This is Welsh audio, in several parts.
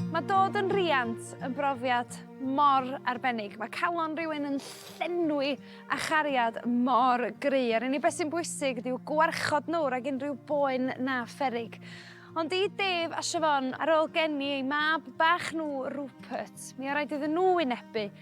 Mae dod yn riant yn brofiad mor arbennig. Mae calon rhywun yn llenwi a chariad mor gry. A'r unig beth sy'n bwysig yw gwarchod nhw rhag unrhyw boen na pherig. Ond i Dave a Siobhan, ar ôl geni eu mab bach nhw, Rupert, mi o rhaid iddyn nhw wynebu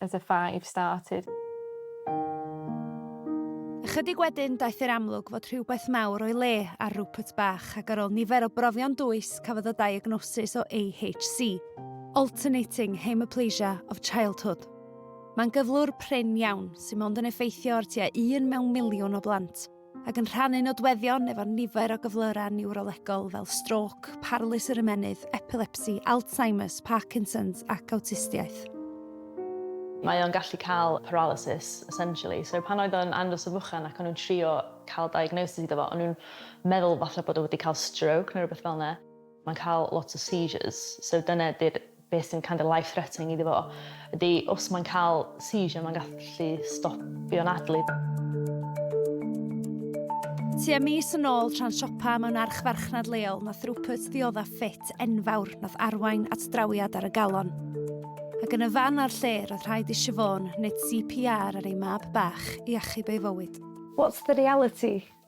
as a five started. Ychydig wedyn daeth i'r amlwg fod rhywbeth mawr o'i le ar Rupert bach ac ar ôl nifer o brofion dwys cafodd y diagnosis o AHC, Alternating Hemiplegia of Childhood. Mae'n gyflwr prin iawn sy'n mond yn effeithio ar tua un mewn miliwn o blant. ac yn rhannu nodweddion efo nifer o gyflyrau niwrolegol fel stroc, parlys yr ymennydd, epilepsi, Alzheimer's, Parkinson's ac awtistiaeth. Mae o'n gallu cael paralysis, essentially. So pan oedd o'n andros o fychan ac o'n nhw'n trio cael diagnosis iddo fo, o'n nhw'n meddwl falle bod o wedi cael stroke neu rhywbeth fel 'na. Mae'n cael lot o seizures, so dyna ydy'r beth sy'n kind of life threatening iddo fo, ydy os mae'n cael seizure mae'n gallu stopio'n adlyd. Tua mis yn ôl tra'n siopa mewn archfarchnad leol nath Rupert ddiodda ffit enfawr nath arwain at drawiad ar y galon. Ac yn y fan a'r lle roedd rhaid i Siobhan wneud CPR ar ei mab bach i achub ei fywyd. What's the reality?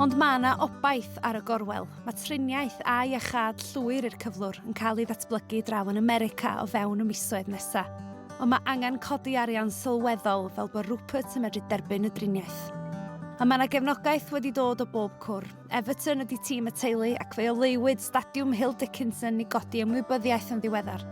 Ond mae yna obaith ar y gorwel. Mae triniaeth a iachâd llwyr i'r cyflwr yn cael ei ddatblygu draw yn America o fewn y misoedd nesaf. Ond mae angen codi arian sylweddol fel bod Rupert yn medru derbyn y driniaeth. A mae yna gefnogaeth wedi dod o bob cwr. Everton ydy tîm y teulu ac fe oleuwyd Stadiwm Hill Dickinson i godi ymwybyddiaeth yn ddiweddar.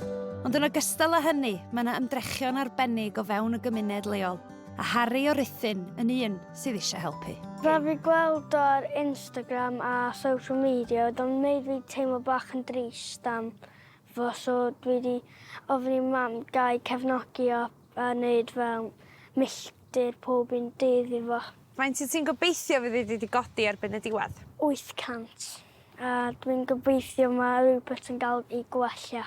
Ond yn ogystal â hynny, mae yna ymdrechion arbennig o fewn y gymuned leol. A Harri o Ruthun yn un sydd eisiau helpu. Fel fi gweld o ar Instagram a social media, oedd o'n wneud fi teimlo bach yn drist am fo, so dwi wedi ofyn i mam gael cefnogi o a wneud fel milltir pob un dydd i fo. Faint wyt ti'n gobeithio fydd hi wedi godi erbyn y diwedd? 800. A dwi'n gobeithio mae rhywbeth yn cael ei gwella.